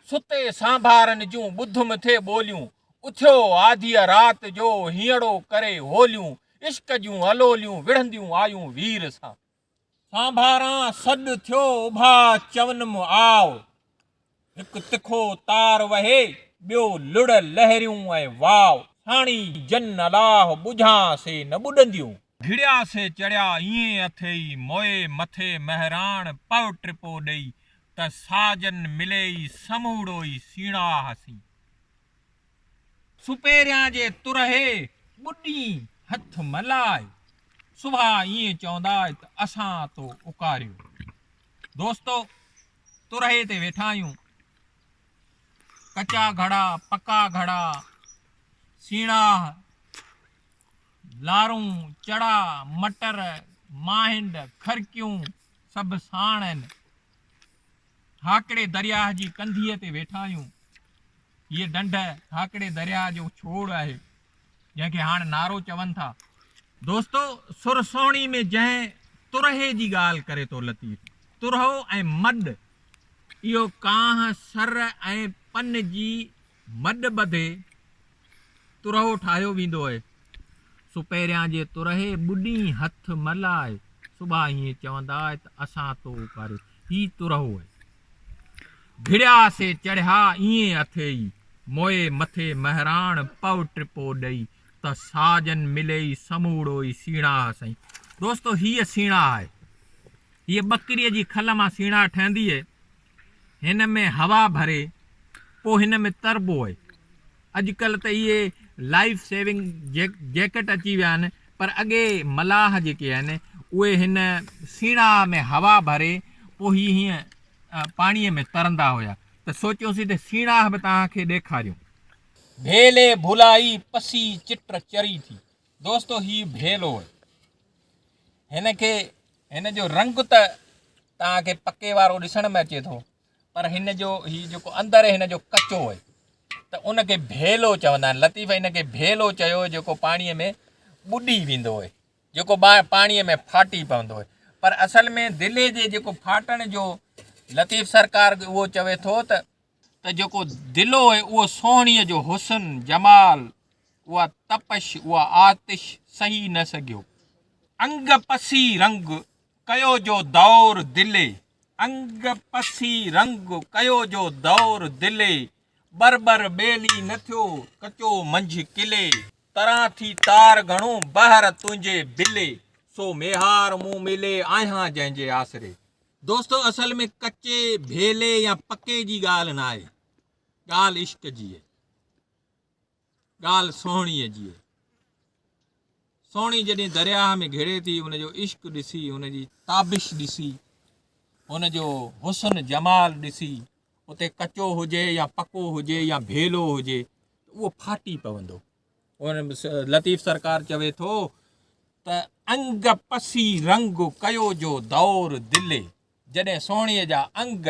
ستي سانڀارن جون ٻڌم ٿي ٻوليون، اٿيو آڌيء رات جو هينئڙو ڪري هوليون، عشق جون الوليون وڙهنديون آيون وير سان. سانڀاران سڏ ٿيو اڀا چونم آء، هڪ تکو تار وهي ٻيو لڙ لهريون ۽ واء، ساڻي جن الاهه ٻجهان سي نه ٻڏنديون. گهڙيا سي چڙهيا ايئن اٿئي موئي مٿي مهراڻ پئو ٽپو ڏئي ته ساجن ملئي سموڙو ئي سيڻاهه سين. سپهريان جي ترهي ٻڏين هٿ ملائي سڀا ايئن چوندائي ته اسان تو اڪاريو دوستو ترهي تي ويٺا آهيون ڪچا گهڙا پڪا گهڙا سيڻاهه لارون، چڙا، مٽر، ماهنڊ، کرڪيون سڀ ساڻ آهن. هاڪڙي درياهه جي ڪنڌيء تي ويٺا آهيون. هيء ڍنڍ هاڪڙي درياهه جو ڇوڙ آهي، جنهن کي هاڻ نارو چون ٿا. دوستو! سر سهڻي ۾ جنهن ترهي جي ڳالهه ڪري ٿو لطيف، ترهو ۽ مڏ، اهو ڪانه سر ۽ پن جي مڏ ٻڌي ترهو ٺاهيو ويندو اهي، سو پهريان جي ترهي ٻڏين هٿ مل آهي، صبح ائين چوندا اهي ته اسان تو اوڪاريو، هي ترهو اهي. گهڙيا سي چڙهيا ائين اٿئي، موئي مٿي مهراڻ پئو ٽپو ڏئي، ته ساجن ملئي سموڙو ئي سيڻاهه سئي. دوستو هيء سيڻاهه آهي. هيء ٻڪريء جي کل مان سيڻاهه ٺهندي اهي. هن ۾ هوا ڀري پوء هن ۾ تربو اهي اڄڪلهه ته اهي لائيف سيونگ جيڪٽ اچي ويا آهن پر اڳي ملاح جيڪي آهن اهي هن سيڻاء ۾ هوا ڀري پوء هي هيئن پاڻي ۾ ترندا هيا ته سوچيوسين ته سيڻاء به توهان کي ڏيکاريون. ڀيلي ڀولائي پسي چٽ چري ٿي. دوستو هي ڀيلو اهي هن کي هن جو رنگ ته توهان کي پڪي وارو ڏسڻ ۾ اچي ٿو پر هن جو هي جيڪو اندر هن جو ڪچو هي ته ان کي ڀيلو چوندا آهن لطيف هن کي ڀيلو چيو جيڪو پاڻي ۾ ٻڏي ويندو هي جيڪو پاڻي ۾ ڦاٽي پوندو هي پر اصل ۾ دلي جي جيڪو ڦاٽڻ جو لطيف سرڪار اهو چوي ٿو ته ته جيڪو دل هو اهو سهڻيء جو حسن، جمال، اها تپش، اها آتش سهي نه سگهيو. انگ پسي رنگ ڪيو جو دور دلي، انگ پسي رنگ ڪيو جو دور دلي، ٻر ٻر ٻيلي نه ٿيو ڪچو منجهه قلعي، تران ٿي تار گهڻو بحر تنهنجي بلي، سو ميهار مون ملي آهيان جنهنجي آسري، دوستو اصل ۾ ڪچي، ڀيلي يا پڪي جي ڳالهه ناهي، ڳالهه عشق جي اهي، ڳالهه سهڻيء جي اهي. سهڻي جڏهن درياهه ۾ گهڙي ٿي ان جو عشق ڏسي، ان جي تابش ڏسي، ان جو حسن جمال ڏسي اتي ڪچو هجي يا پڪو هجي يا ڀيلو هجي ته اهو ڦاٽي پوندو. لطيف سرڪار چوي ٿو ته انگ پسي رنگ ڪيو جو دور دلي جڏهن سهڻي جا انگ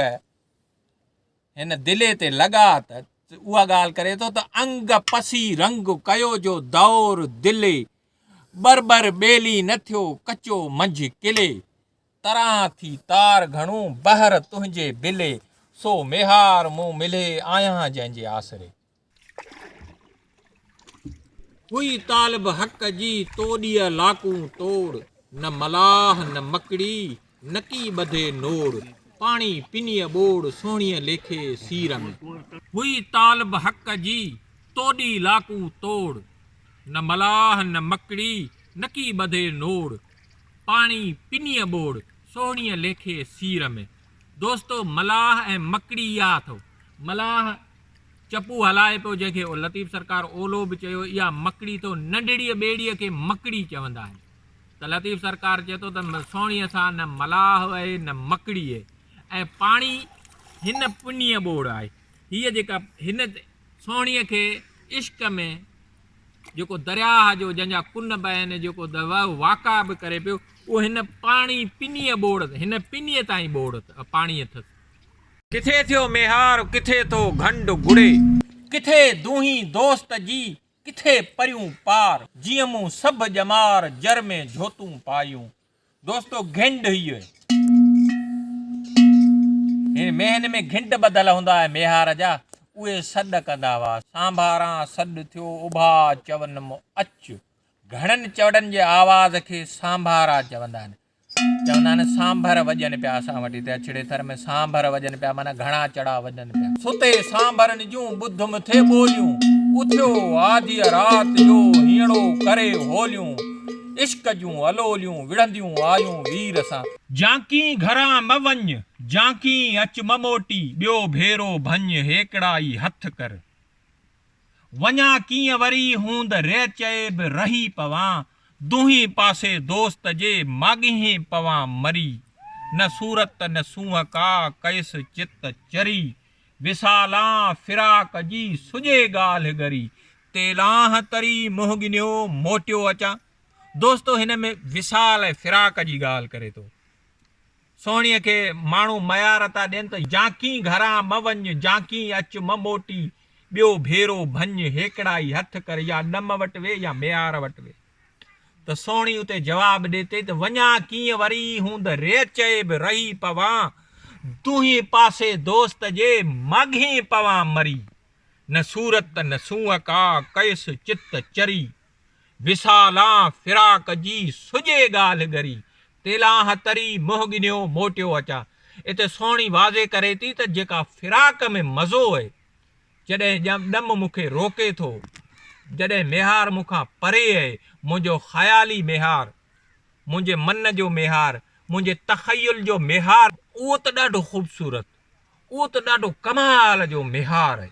هن دلي تي لڳا ته اها ڳالهه ڪري ٿو ته انگ پسي رنگ ڪيو جو دور دلي بربر ٻيلي نه ٿيو ڪچو منجهه قلي تران ٿي تار گهڻو بهر تنهنجي بلي سو ميهار مون ملهي آهيان جنهن جي آسري هئي طالب حق جي توڏيء لاڪون توڙ، نه ملاح نه مڪڙي نڪي ٻڌي نوڙ، پاڻي پنيء ٻوڙ سهڻيء ليکي سير ۾. هئي طالب حق جي توڏي لاڪون توڙ، نه ملاح نه مڪڙي نڪي ٻڌي نوڙ، پاڻي پنيء ٻوڙ سهڻيء ليکي سير ۾. دوستو ملاح ۽ مڪڙي اها اٿئو. ملاح چپو هلائي پيو جنهن کي لطيف سرڪار اولو به چيو اها مڪڙي ٿو ننڍڙيء ٻيڙيء کي مڪڙي چوندا آهن ته لطيف سرڪار چئي ٿو ته سهڻيء سان نه ملاح وهي نه مڪڙيء ۽ پاڻي هن پنيء ٻوڙ آهي هيء جيڪا هن سهڻيء کي عشق ۾ جيڪو درياهه جو جنهن جا ڪن به آهن جيڪو واقع به ڪري پيو اهو هن پاڻي پنيء ٻوڙ هن پنيء تائين ٻوڙ پاڻي اٿس ڪٿي ٿيو ميهار ڪٿي ٿو گهنڊ گهڙي. ڪٿي دونهين دوست جي ڪٿي پريون پار. جيئن مون سڀ ڄمار جر ۾ جهوتون پايون. دوستو گهنڊ هيء هي. هن ميهن ۾ گهنڊ ٻڌل هوندا هئا ميهار جا. اهي سڏ ڪندا هئا. سانڀاران سڏ ٿيو اڀا چونم اچ. گهڻن چوڙن جي آواز کي سانڀارا چوندا آهن. چوندا آهن سانڀر وڄن پيا اسان وٽ هتي اڇڙي ٿر ۾ سانڀر وڄن پيا معنيٰ گهڻا چڙا وڄن پيا. ستي سانڀرن جون ٻڌ مٿي ٻوليون اٿيو آڌيء رات جو هينئڙو ڪري هوليون عشق جون الوليون وڙهنديون آيون وير سان. جانڪين گهران مه وڃ جانڪين اچ مه موٽي ٻيو ڀيرو ڀڃ هيڪڙا ئي هٿ ڪر وڃان ڪيئن وري هوند رئ چئي به رهي پوان دونهين پاسي دوست جي ماڳهين پوان مري نه صورت نه سونهن ڪا ڪئس چت چري وصالان فراق جي سڄي ڳالهه ڳري تيلانه تري منهن ڳنيو موٽيو اچان دوستو هن ۾ وصال ۽ فراق جي ڳالهه ڪري ٿو سهڻيء کي ماڻهو ميار ٿا ڏين ته جانڪين گهران مه وڃ، جانڪين اچ مه موٽي، ٻيو ڀيرو ڀڃ، هيڪڙائي هٿ ڪر، يا ڏم وٽ ويهه يا ميار وٽ ويهه. ته سهڻي اتي جواب ڏي ٿي ته وڃان ڪيئن وري ئي هوند ري چئي به رهي پوان، دونهين پاسي دوست جي ماڳهين پوان مري، نه صورت نه سونهن ڪا، ڪيس چت چري. وصالان فراق جي سڄي ڳالهه ڳري، تيلانهه تري منهن ڳنيو موٽيو اچان. اتي سهڻي واضح ڪري ٿي ته جيڪا فراق ۾ مزو اهي، جڏهن ڄم ڏم مون کي روڪي ٿو، جڏهن ميهار مون کان پري اهي، منهنجو خيالي ميهار، منهنجي من جو ميهار، منهنجي تخيل جو ميهار، اهو ته ڏاڍو خوبصورت، اهو ته ڏاڍو ڪمال جو ميهار اهي.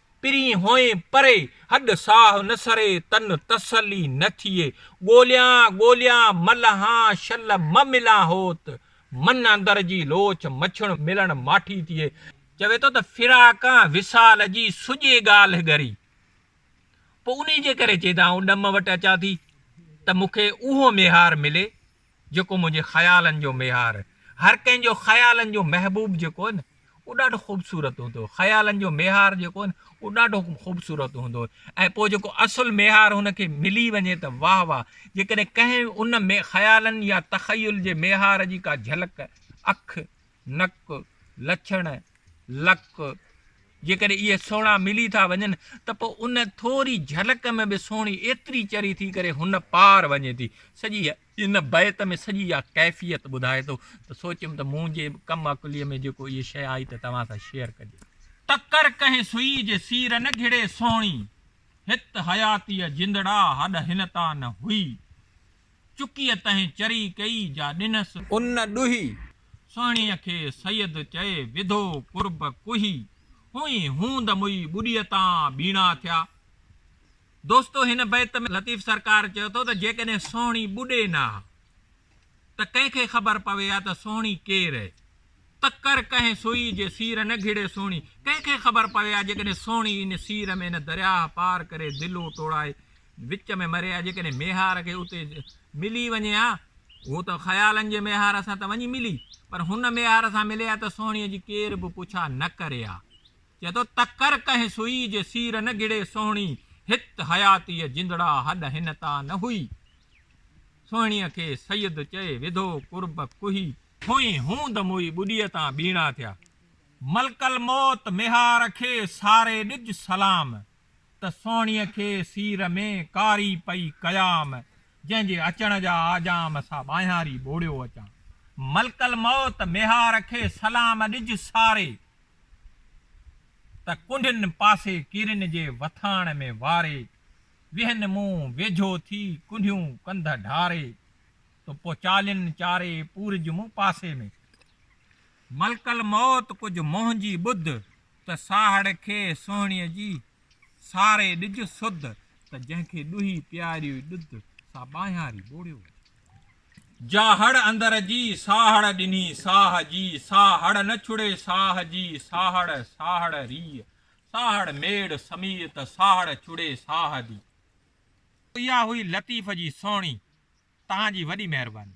پرين هئين پري، هڏ ساهه نه سري، تن تسلي نه ٿئي، ڳوليان ڳوليان ملهان شل مه ملان هوت، من اندر جي لوچ مڇڻ ملڻ ماٺي ٿئي. چوي ٿو ته فراقان وصال جي سڄي ڳالهه ڳري، پوء انهي جي ڪري چيدان آئون ڏم وٽ اچان ٿي ته مون کي اهو ميهار ملي جيڪو منهنجي خيالن جو ميهار هر ڪنهن جو خيالن جو محبوب جيڪو هو نه اهو ڏاڍو خوبصورت هوندو هو خيالن جو ميهار جيڪو هو نه اهو ڏاڍو خوبصورت هوندو هو ۽ پوء جيڪو اصل ميهار هن کي ملي وڃي ته واهه واهه جيڪڏهن ڪنهن ان خيالن يا تخيل جي ميهار جي ڪا جهلڪ اک نڪ، لڇڻ، لڪ، جيڪڏهن اهي سهڻا ملي ٿا وڃن ته پوء ان ٿوري جهلڪ ۾ به سهڻي ايتري چري ٿي ڪري هن پار وڃي ٿي. سڄي ان بيت ۾ سڄي اها ڪيفيت ٻڌائي ٿو ته سوچيم ته منهنجي ڪم عقليء ۾ جيڪو اهي شيء آئي ته توهان سان شيئر ڪجي. ٽڪر ڪنهن سئي جي سير نه گهڙي سهڻي، هت حياتيء جندڙا هڏ هن تان نه هئي. چڪيء تنهن چري ڪئي جا ڏنس. ان ڏوهي. سهڻيء کي سيد چئي وڌو قرب ڪوهي. هونئي هوند موئي ٻڏيء تان ٻيڻا ٿيا. دوستو هن بيت ۾ لطيف سرڪار چيو ٿو ته جيڪڏهن سهڻي ٻڏي نه ها ته ڪنهن کي خبر پوي ها ته سهڻي ڪير هي؟ تڪر ڪنهن سوئي جي سير نه گهڙي سهڻي، ڪنهن کي خبر پوي ها جيڪڏهن سهڻي ان سير ۾ ان درياهه پار ڪري دلو ٽوڙائي وچ ۾ مري ها جيڪڏهن ميهار کي اتي ملي وڃي ها اهو ته خيالن جي ميهار سان ته وڃي ملي پر هن ميهار سان ملي ها ته سهڻيء جي ڪير به پڇا نه ڪري ها چئي ٿو تڪر ڪنهن سوئي جي سير نه گهڙي سهڻي هت حياتيء جندڙا هڏ هن تان نه هئي سهڻيء کي سيد چئي وڌو قرب ڪوهي ٿوئي هوند موئي ٻڏيء تان ٻيڻا ٿيا ملڪ الموت ميهار کي ساري ڏج سلام ته سهڻيء کي سير ۾ ڪاري پئي ڪيام، جنهن جي اچڻ جا آجام سا ٻانهياري ٻوڙيو اچان. ملڪ الموت ميهار کي سلام ڏج ساري، ته ڪنڍن پاسي ڪيرين جي وٿاڻ ۾ واري، ويهن مون ويجهو ٿي ڪنڍيون ڪنڌ ڍاري، تو پو چالين چاري پورج مون پاسي ۾. ملڪ الموت ڪجهه منهنجي ٻڌ، ته ساهڙ کي سهڻيء جي، ساري ڏج سڌ، ته جنهن کي ڏوهي پياريوئي ڏڌ، سا ٻانهياري ٻوڙيو وڃي. جا هڙ اندر جي، ساهڙ ڏني ساهه جي، سا هڙ نه ڇڙي ساهه جي، ساهڙ، ساهڙ ريء، ساهڙ ميڙ سميء، ته ساهڙ ڇڙي ساهه دي. اها هئي لطيف جي سهڻي، تهان جي وڏي مهرباني.